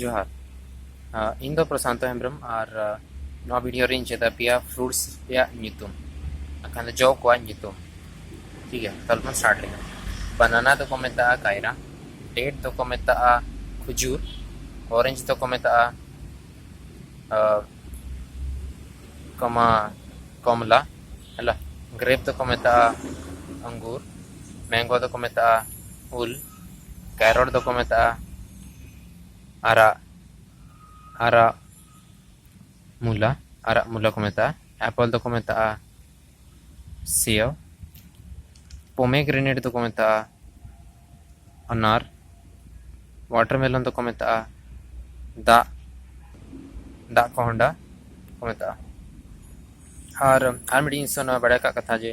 ᱡᱚᱦᱟᱨ ᱤᱧ ᱫᱚ ᱯᱨᱚᱥᱟᱱᱛᱚ ᱦᱮᱢᱵᱨᱚᱢ ᱟᱨ ᱱᱚᱣᱟ ᱵᱷᱤᱰᱤᱭᱳ ᱨᱤᱧ ᱪᱮᱫᱟ ᱯᱮᱭᱟ ᱯᱷᱨᱩᱴᱥ ᱨᱮᱭᱟᱜ ᱧᱩᱛᱩᱢ ᱟᱠᱷᱟᱱ ᱡᱚ ᱠᱚᱣᱟᱜ ᱧᱩᱛᱩᱢ ᱴᱷᱤᱠ ᱜᱮᱭᱟ ᱛᱟᱦᱞᱮ ᱵᱚᱱ ᱥᱴᱟᱨᱴ ᱞᱮᱜᱮ ᱵᱟᱱᱟᱱᱟ ᱫᱚᱠᱚ ᱢᱮᱛᱟᱜᱼᱟ ᱠᱟᱭᱨᱟ ᱰᱮᱴ ᱫᱚᱠᱚ ᱢᱮᱛᱟᱜᱼᱟ ᱠᱷᱩᱡᱩᱨ ᱚᱨᱮᱧᱡᱽ ᱫᱚᱠᱚ ᱢᱮᱛᱟᱜᱼᱟ ᱠᱚᱢᱟ ᱠᱚᱢᱞᱟ ᱦᱮᱞᱟ ᱜᱨᱮᱯ ᱫᱚᱠᱚ ᱢᱮᱛᱟᱜᱼᱟ ᱟᱝᱜᱩᱨ ᱢᱮᱝᱜᱳ ᱫᱚᱠᱚ ᱢᱮᱛᱟᱜᱼᱟ ᱩᱞ ᱠᱮᱨᱚᱴ ᱫᱚᱠᱚ ᱢᱮᱛᱟᱜᱼᱟ ᱟᱨᱟᱜ ᱟᱨᱟᱜ ᱢᱩᱞᱟ ᱟᱨᱟᱜ ᱢᱩᱞᱟ ᱠᱚ ᱢᱮᱛᱟᱜᱼᱟ ᱮᱯᱚᱞ ᱫᱚᱠᱚ ᱢᱮᱛᱟᱜᱼᱟ ᱥᱮᱣ ᱯᱚᱢᱮᱜᱨᱮᱱᱮᱴ ᱫᱚᱠᱚ ᱢᱮᱛᱟᱜᱼᱟ ᱟᱱᱟᱨ ᱣᱟᱴᱟᱨᱢᱮᱞᱚᱱ ᱫᱚᱠᱚ ᱢᱮᱛᱟᱜᱼᱟ ᱫᱟᱜ ᱫᱟᱜ ᱠᱚᱦᱚᱸᱰᱟ ᱠᱚ ᱢᱮᱛᱟᱜᱼᱟ ᱟᱨ ᱟᱨ ᱢᱤᱫᱴᱤᱡ ᱡᱤᱱᱤᱥ ᱚᱱᱟ ᱵᱟᱲᱟᱭ ᱠᱟᱜ ᱠᱟᱛᱷᱟ ᱡᱮ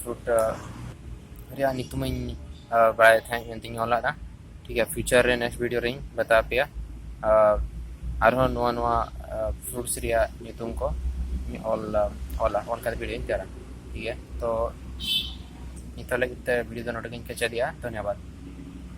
ᱯᱷᱨᱩᱴ ᱨᱮᱭᱟᱜ ᱧᱩᱛᱩᱢᱤᱧ ᱵᱟᱲᱟᱭ ᱛᱟᱦᱮᱸᱫ ᱢᱮᱱᱛᱮᱧ ᱚᱞ ᱟᱫᱟ ᱴᱷᱤᱠ ᱜᱮᱭᱟ ᱯᱷᱤᱭᱩᱪᱟᱨ ᱨᱮ ᱱᱮᱠᱥᱴ ᱵᱷᱤᱰᱤᱭᱳ ᱨᱮᱧ ᱵᱟᱛᱟᱣ ᱯᱮᱭᱟ ᱟᱨᱦᱚᱸ ᱱᱚᱣᱟ ᱱᱚᱣᱟ ᱯᱷᱨᱩᱴᱥ ᱨᱮᱭᱟᱜ ᱧᱩᱛᱩᱢ ᱠᱚ ᱚᱞ ᱚᱞᱟ ᱚᱞ ᱠᱟᱛᱮ ᱵᱷᱤᱰᱤᱭᱳᱧ ᱛᱮᱭᱟᱨᱟ ᱴᱷᱤᱠ ᱜᱮᱭᱟ ᱛᱚ ᱱᱤᱛᱚᱜ ᱞᱟᱹᱜᱤᱫ ᱛᱮ ᱵᱷᱤᱰᱤᱭᱳ ᱫᱚ ᱱᱚᱰᱮ ᱜᱤᱧ ᱠᱮᱪᱮᱫᱮᱜᱼᱟ ᱫᱷᱚᱱᱭᱚᱵᱟᱫᱽ